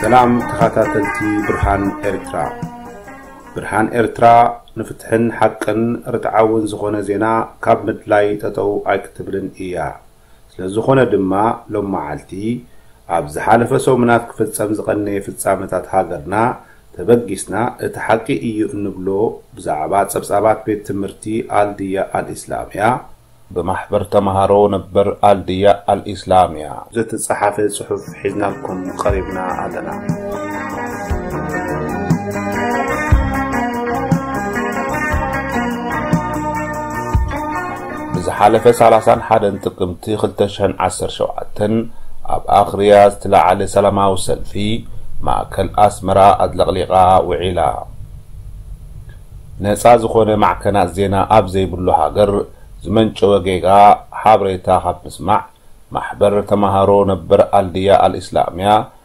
ሰላም ተኸታተልቲ ብርሃን ኤርትራ ብርሃን ኤርትራ ንፍትሕን ሓቅን ርትዓውን ዝኾነ ዜና ካብ ምድላይ ጠጠው ኣይክትብልን እያ ስለ ዝኾነ ድማ ሎም መዓልቲ ኣብ ዝሓለፈ ሰሙናት ክፍጸም ዝቐነየ ፍጻመታት ሃገርና ተበጊስና እቲ ሓቂ እዩ እንብሎ ብዛዕባ ጸብጻባት ቤት ትምህርቲ ኣልድያ ኣልኢስላምያ፣ ብማሕበር ተማሃሮ ነበር ኣልድያ ኣልኢስላምያ። ዘተጻሓፈ ጽሑፍ ሒዝናልኩም ቀሪብና ኣለና። ብዝሓለፈ ሰላሳን ሓደን ጥቅምቲ ክልተ ሽሕን ዓሰርተ ሸውዓተን ኣብ ኣኽርያ ዝተላዓለ ሰላማዊ ሰልፊ ማእከል ኣስመራ ኣጥለቕሊቓ ውዒላ። ነጻ ዝኾነ ማዕከናት ዜና ኣብ ዘይብሉ ሃገር ዝመንጨወ ጌጋ ሓበሬታ ካብ ምስማዕ ማሕበር ተማሃሮ ነበር ኣልድያ ኣልኢስላምያ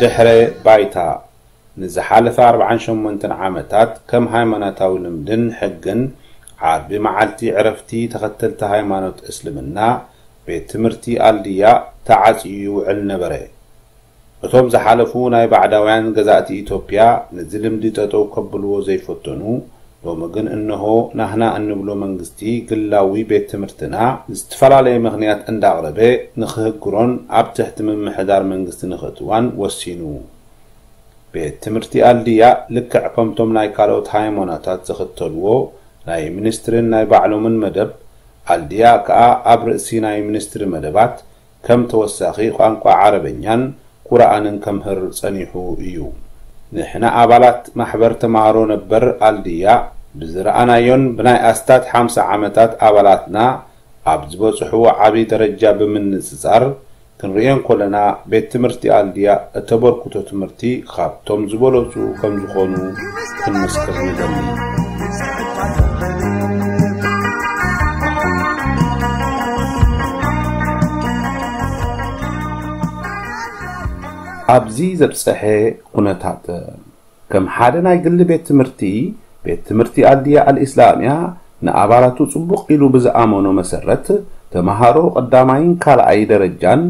ድሕረ ባይታ ንዝሓለፈ ኣርብዓን ሸሞንተን ዓመታት ከም ሃይማኖታዊ ልምድን ሕግን ዓርቢ መዓልቲ ዕረፍቲ ተኸተልቲ ሃይማኖት እስልምና ቤት ትምህርቲ ኣልድያ ተዓፅዩ ይውዕል ነበረ። እቶም ዝሓለፉ ናይ ባዕዳውያን ገዛእቲ ኢትዮጵያ ነዚ ልምዲ ጠጠው ከብልዎ ዘይፈተኑ ሎሚ ግን እነሆ ናህና እንብሎ መንግስቲ ግላዊ ቤት ትምህርትና ብዝትፈላለየ ምኽንያት እንዳቕረበ ንኽህግሮን ኣብ ትሕቲ ምምሕዳር መንግስቲ ንኽእትዋን ወሲኑ ቤት ትምህርቲ ኣልድያ ልክዕ ከምቶም ናይ ካልኦት ሃይሞናታት ዝኽተልዎ ናይ ሚኒስትሪን ናይ ባዕሎምን መደብ ኣልድያ ክኣ ኣብ ርእሲ ናይ ሚኒስትሪ መደባት ከም ተወሳኺ ቋንቋ ዓረበኛን ቁርኣንን ከምህር ጸኒሑ እዩ። ንሕና ኣባላት ማሕበር ተማሃሮ ነበር ኣልድያ ብዝረኣናዮን ብናይ ኣስታት ሓምሳ ዓመታት ኣባላትና ኣብ ዝበጽሕዎ ዓቢ ደረጃ ብምንጽጻር ክንርእዮ እንኮለና ቤት ትምህርቲ ኣልድያ እተበርክቶ ትምህርቲ ኻብ እቶም ዝበለጹ ከም ዝኾኑ ክንምስክር ንደሊ። ኣብዚ ዘብጸሐ ኩነታት ከም ሓደ ናይ ግሊ ቤት ትምህርቲ ቤት ትምህርቲ ኣልድያ ኣልእስላምያ ንኣባላቱ ጽቡቕ ኢሉ ብዝኣመኖ መሰረት ተመሃሮ ቀዳማይን ካልኣይ ደረጃን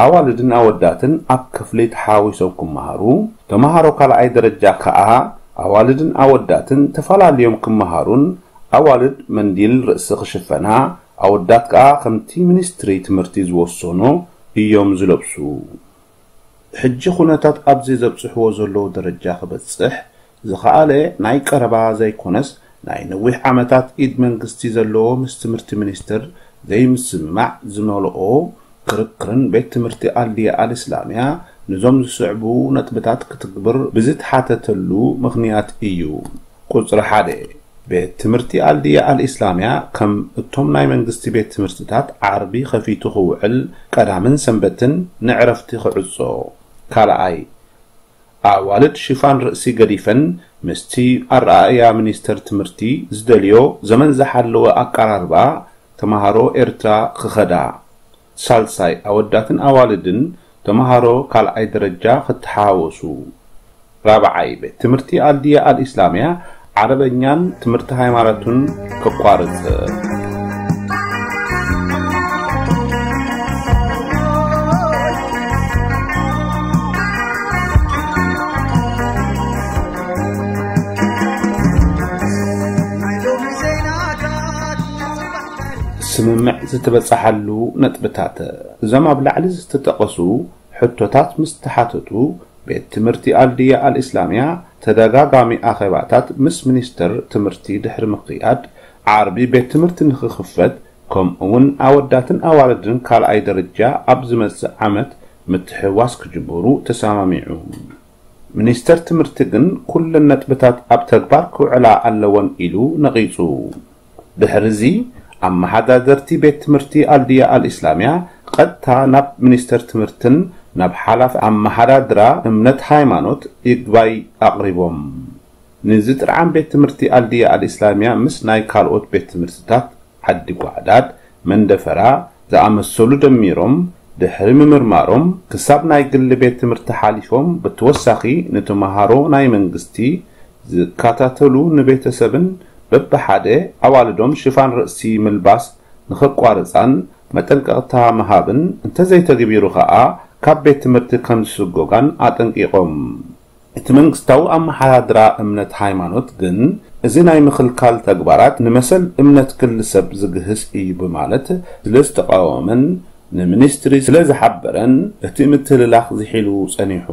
ኣዋልድን ኣወዳትን ኣብ ክፍሊ ተሓዋዊሶም ክመሃሩ፣ ተመሃሮ ካልኣይ ደረጃ ከኣ ኣዋልድን ኣወዳትን ተፈላልዮም ክመሃሩን ኣዋልድ መንዲል ርእሲ ክሽፈና ኣወዳት ከኣ ከምቲ ሚኒስትሪ ትምህርቲ ዝወሰኖ እዮም ዝለብሱ። ሕጂ ኩነታት ኣብዚ ዘብጽሕዎ ዘለዉ ደረጃ ክበጽሕ ዝኸኣለ ናይ ቀረባ ዘይኮነስ ናይ ነዊሕ ዓመታት ኢድ መንግስቲ ዘለዎ ምስ ትምህርቲ ሚኒስትር ዘይምስምማዕ ዝመልኦ ክርክርን ቤት ትምህርቲ ኣልዲያ ኣልእስላሚያ ንዞም ዝስዕቡ ነጥብታት ክትግብር ብዝተሓተተሉ ምኽንያት እዩ። ቁጽሪ ሓደ፣ ቤት ትምህርቲ ኣልዲያ ኣልእስላሚያ ከም እቶም ናይ መንግስቲ ቤት ትምህርትታት ዓርቢ ከፊቱ ክውዕል ቀዳምን ሰንበትን ንዕረፍቲ ክዕጾ። ካልኣይ፣ ኣዋልድ ሽፋን ርእሲ ገዲፈን ምስቲ ኣረኣእያ ሚኒስተር ትምህርቲ ዝደልዮ ዘመን ዝሓለወ ኣቀራርባ ተመሃሮ ኤርትራ ክኸዳ፣ ሳልሳይ ኣወዳትን ኣዋልድን ተመሃሮ ካልኣይ ደረጃ ክተሓዋወሱ፣ ራብዓይ ቤት ትምህርቲ ኣልዲያ ኣልኢስላምያ ዓረበኛን ትምህርቲ ሃይማኖቱን ከቋርጽ ስምምዕ ዝተበጽሓሉ ነጥብታት እዞም ኣብ ላዕሊ ዝተጠቐሱ ሕቶታት ምስ ተሓተቱ ቤት ትምህርቲ ኣልድያ ኣልእስላምያ ተደጋጋሚ ኣኼባታት ምስ ሚኒስተር ትምህርቲ ድሕሪ ምክያድ፣ ዓርቢ ቤት ትምህርቲ ንክኽፈት ከምኡ'ውን ኣወዳትን ኣዋልድን ካልኣይ ደረጃ ኣብ ዝመጽእ ዓመት ምትሕውዋስ ክጅምሩ ተሰማሚዑ። ሚኒስተር ትምህርቲ ግን ኩለን ነጥብታት ኣብ ተግባር ክውዕላ ኣለወን ኢሉ ነቒጹ። ድሕሪ'ዚ ኣመሓዳደርቲ ቤት ትምህርቲ ኣልድያ ኣልኢስላምያ ቐጥታ ናብ ሚኒስተር ትምህርትን ናብ ሓላፊ ኣመሓዳድራ እምነት ሃይማኖት ይግባይ ኣቕሪቦም። ንዝጥርዓን ቤት ትምህርቲ ኣልድያ ኣልኢስላምያ ምስ ናይ ካልኦት ቤት ትምህርትታት ዓዲ ጓዕዳድ፣ መንደፈራ፣ ዝኣመሰሉ ደሚሮም ድሕሪ ምምርማሮም ክሳብ ናይ ግሊ ቤት ትምህርቲ ሓሊፎም ብተወሳኺ ንተምሃሮ ናይ መንግስቲ ዝከታተሉ ንቤተሰብን በብሓደ ኣዋልዶም ሽፋን ርእሲ ምልባስ ንኸቋርፃን መጠንቀቕታ ምሃብን እንተዘይተግቢሩ ከዓ ካብ ቤት ትምህርቲ ከምዝስጎጋን ኣጠንቂቖም። እቲ መንግስታዊ ኣመሓዳድራ እምነት ሃይማኖት ግን እዚ ናይ ምኽልካል ተግባራት ንመሰል እምነት ክል ሰብ ዝግህስ እዩ ብማለት ስለ ዝተቓወመን ንሚኒስትሪ ስለ ዝሓበረን እቲ ምትህልላኽ ዝሒሉ ጸኒሑ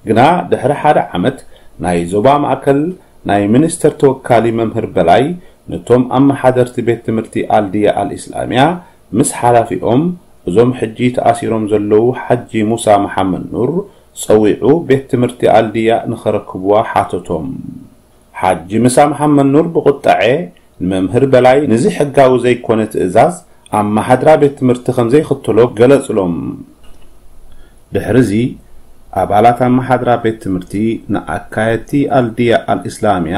ግና ድሕሪ ሓደ ዓመት ናይ ዞባ ማእከል ናይ ሚኒስተር ተወካሊ መምህር በላይ ነቶም ኣመሓደርቲ ቤት ትምህርቲ ኣልድያ ኣልኢስላሚያ ምስ ሓላፊኦም እዞም ሕጂ ተኣሲሮም ዘለዉ ሓጂ ሙሳ መሓመድኑር ጸዊዑ ቤት ትምህርቲ ኣልድያእ ንኸረክቡዋ ሓተቶም። ሓጂ ምሳ መሓመድኑር ብቑጠዔ ንመምህር በላይ ንዚ ሕጋዊ ዘይኮነ ትእዛዝ ኣማሓድራ ቤት ትምህርቲ ከምዘይኽተሎ ገለጽሎም። ድሕሪዚ ኣባላት ኣማሓድራ ቤት ትምህርቲ ንኣካየድቲ ኣልድያእ ኣልእስላምያ፣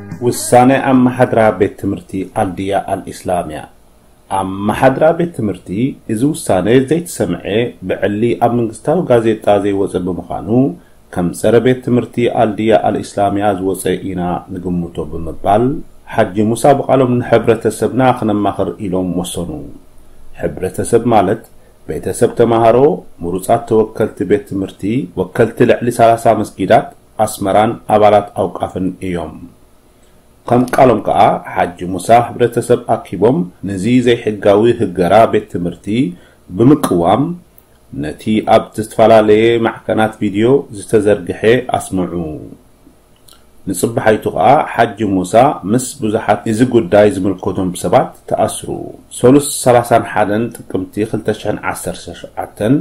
ውሳነ ኣመሓድራ ቤት ትምህርቲ ኣልድያ ኣልኢስላምያ። ኣመሓድራ ቤት ትምህርቲ እዚ ውሳነ ዘይተሰምዐ ብዕሊ ኣብ መንግስታዊ ጋዜጣ ዘይወፀ ብምዃኑ ከም ፀረ ቤት ትምህርቲ ኣልድያ ኣልኢስላምያ ዝወፀ ኢና ንግምቶ ብምባል ሓጂ ሙሳ ብቓሎም ንሕብረተሰብና ክነማኽር ኢሎም ወሰኑ። ሕብረተሰብ ማለት ቤተሰብ ተምሃሮ፣ ምሩፃት ተወከልቲ ቤት ትምህርቲ፣ ወከልቲ ልዕሊ ሰላሳ መስጊዳት፣ ኣስመራን ኣባላት ኣውቃፍን እዮም። ከም ቃሎም ከኣ ሓጂ ሙሳ ህብረተሰብ ኣኪቦም ነዚ ዘይሕጋዊ ህገራ ቤት ትምህርቲ ብምቅዋም ነቲ ኣብ ዝትፈላለየ ማዕከናት ቪድዮ ዝተዘርግሐ ኣስምዑ። ንጽባሓይቱ ከኣ ሓጂ ሙሳ ምስ ብዙሓት እዚ ጉዳይ ዝምልከቶም ሰባት ተኣስሩ። ሰሉስ ሰላሳን ሓደን ጥቅምቲ ክልተ ሽሕን ዓሰርተ ሸውዓተን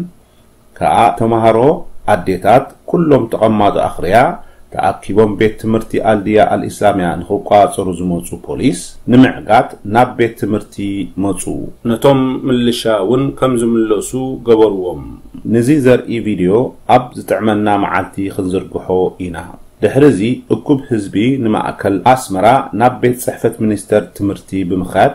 ከኣ ተማሃሮ ኣዴታት ኩሎም ተቐማጦ ኣኽርያ ተኣኪቦም ቤት ትምህርቲ ኣልድያ ኣልኢስላምያ ንኽቋጸሩ ዝመጹ ፖሊስ ንምዕጋት ናብ ቤት ትምህርቲ መጹ። ነቶም ምልሻ እውን ከም ዝምለሱ ገበሩዎም። ንዚ ዘርኢ ቪድዮ ኣብ ዝጥዕመና መዓልቲ ክንዝርግሖ ኢና። ድሕሪ እዚ እኩብ ህዝቢ ንማእከል ኣስመራ ናብ ቤት ጽሕፈት ሚኒስተር ትምህርቲ ብምኽያድ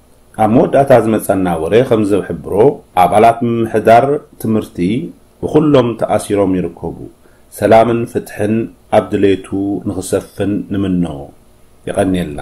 ኣብ መወዳእታ ዝመጸና ወረ ከምዝሕብሮ ኣባላት ምምሕዳር ትምህርቲ ብኹሎም ተኣሲሮም ይርከቡ ሰላምን ፍትሕን ኣብ ድሌቱ ንኽሰፍን ንምኖ። የቐንየልና።